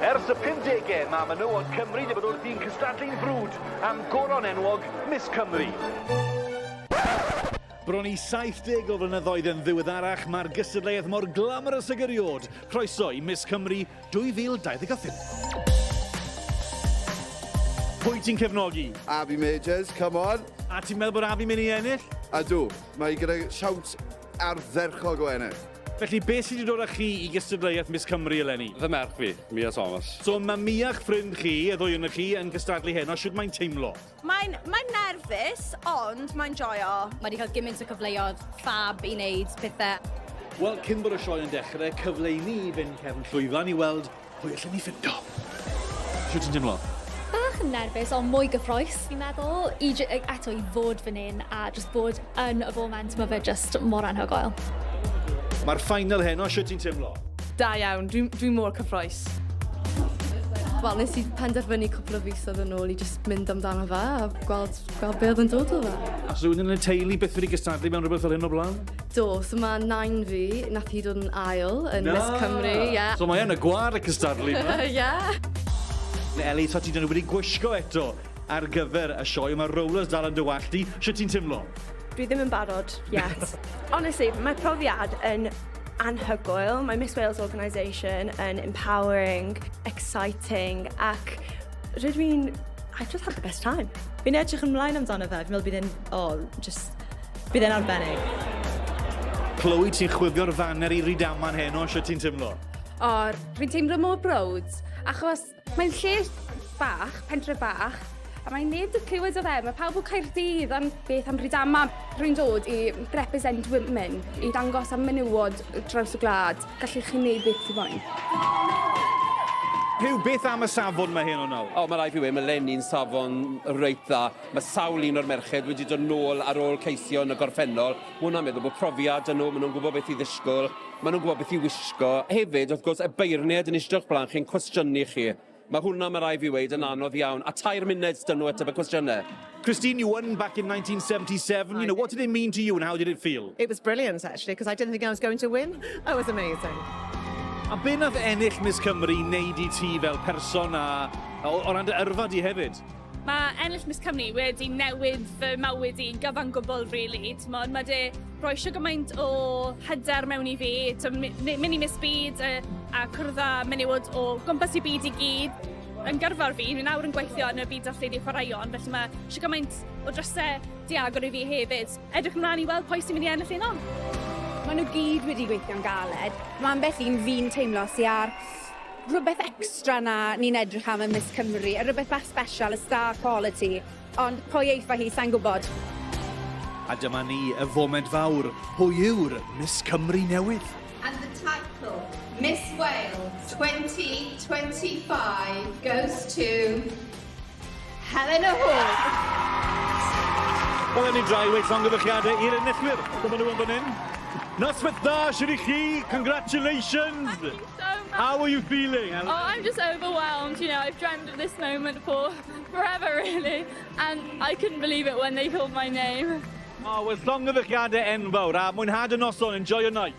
Ers y 50au, mae menywod Cymru wedi bod wrthi'n cystadlu'n frwd am goron enwog Miss Cymru. Bron i 70 o flynyddoedd yn ddiweddarach, mae'r gystadleuaeth mor glamorous ag eriod. Croeso i Miss Cymru 2025. Pwy ti'n cefnogi? Avi Majors, come on. A ti'n meddwl bod Avi mynd i ennill? A dw, mae gyda siawns ardderchog o ennill. Felly, beth sydd wedi dod â chi i gystadleuaeth Miss Cymru eleni? Fy merch fi, Mia Thomas. So, mae Mia'ch ffrind chi, y ddwy ohonoch chi, yn gystadlu heno. Sut mae'n teimlo? Mae'n mae nerfus, ond mae'n joio. Mae wedi cael gymaint o cyfleoedd fab i wneud pethau. Wel, cyn bod y sioe yn dechrau, cyfle i ni fynd cefn llwyfan i weld Pwy allen ni ffindo? Shwt ti'n teimlo? Bach yn nerfus ond mwy gyffroes fi'n meddwl i eto i fod fan hyn a jyst bod yn y foment mae fe jyst mor anhygoel. Mae'r final heno, shwt ti'n teimlo? Da iawn, dwi'n dwi mor cyffroes. Wel, nes i penderfynu cwpl o fisoedd yn ôl i jyst mynd amdano fe a gweld, gweld be oedd yn dod o fe. A rhywun yn y teulu beth wedi gystadlu mewn rhywbeth fel hyn o blaen? Do, so mae nain fi, nath hi dod yn ail yn Na! Miss Cymru, ie. Yeah. So mae yn y gwar y cystadlu yma. Ie. yeah. Neu Ellie, so ti dyn nhw wedi gwisgo eto ar gyfer y sioe, mae rollers dal yn dy wallt di. Sut ti'n timlo? Dwi ddim yn barod, yet. Honestly, mae profiad yn anhygoel. Mae Miss Wales Organisation yn empowering, exciting, ac rydw i'n... I've just had the best time. Fi'n edrych ymlaen amdano fe. Fi'n meddwl bydd e'n, oh, just Bydd e'n arbennig. Chloe, ti'n chwifio'r faner i Rydaman heno, sio ti'n tymlo? O, rwy'n teimlo mor browd, achos mae'n lle bach, pentre bach, a mae neb wedi clywed o fe, mae pawb o Caerdydd, ond beth am Rydaman? Rwy'n dod i represent women, i dangos am menywod draws y gwlad, gallu chi wneud beth sy'n moyn. Rhyw beth am y safon mae hyn o'n nawr? O, mae rai fi wedi, mae Lenny'n safon reit dda. Mae sawl un o'r merched wedi dod nôl ar ôl ceisio yn y gorffennol. Mae hwnna'n meddwl bod profiad 'da nhw, maen nhw'n gwybod beth i ddisgwyl, maen nhw'n gwybod beth i wisgo. Hefyd, wrth gwrs, y beirniaid yn eistedd o'ch blaen chi'n cwestiynu chi. Mae hwnna, mae rai' fi weud, yn anodd iawn. A tair munud s'da nhw ateb y cwestiynau. Christine, you won back in 1977. You know, what did it mean to you and how did it feel? It was brilliant, actually, because I didn't think I was going to win. It was amazing. A be nath ennill Miss Cymru i wneud i ti fel person a o, o ran dy yrfa di hefyd? Mae ennill Miss Cymru wedi newid fy mywyd i'n gyfan gwbl rili, t'mod ma' 'di rhoi shwd gymaint o hyder mewn i fi, t'o' my- my- myn' i Miss Byd yy a cwrdd â menywod o gwmpas y byd i gyd yn gyrfa fi, fi nawr yn gweithio yn y byd darlledu chwaraeon felly ma' shwd gymaint o dryse 'di agor i fi hefyd. Edrych ymlan i weld pwy sy'n mynd i ennill heno. Ma' nw gyd wedi gweithio'n galed. Ma' ambell un fi'n teimlo sy ar rhywbeth extra na ni'n edrych am yn Miss Cymru, a rhywbeth bach special, a star quality, ond pwy eitha hi, sai'n gwybod. A dyma ni, y foment fawr, pwy yw'r Miss Cymru newydd? And the title, Miss Wales 2025 goes to... Helen a Hwg. Wel, ni drai wedi llongyfychiadau i'r enillwyr. Dyma nhw yn fan hyn. Noswaith dda, sydd i chi. Congratulations. Thank you so much. How are you feeling? Oh, I'm just overwhelmed. You know, I've dreamed of this moment for forever, really. And I couldn't believe it when they called my name. Oh, well, llongyfychiadau enfawr. A mwynhad y noson. Enjoy your night.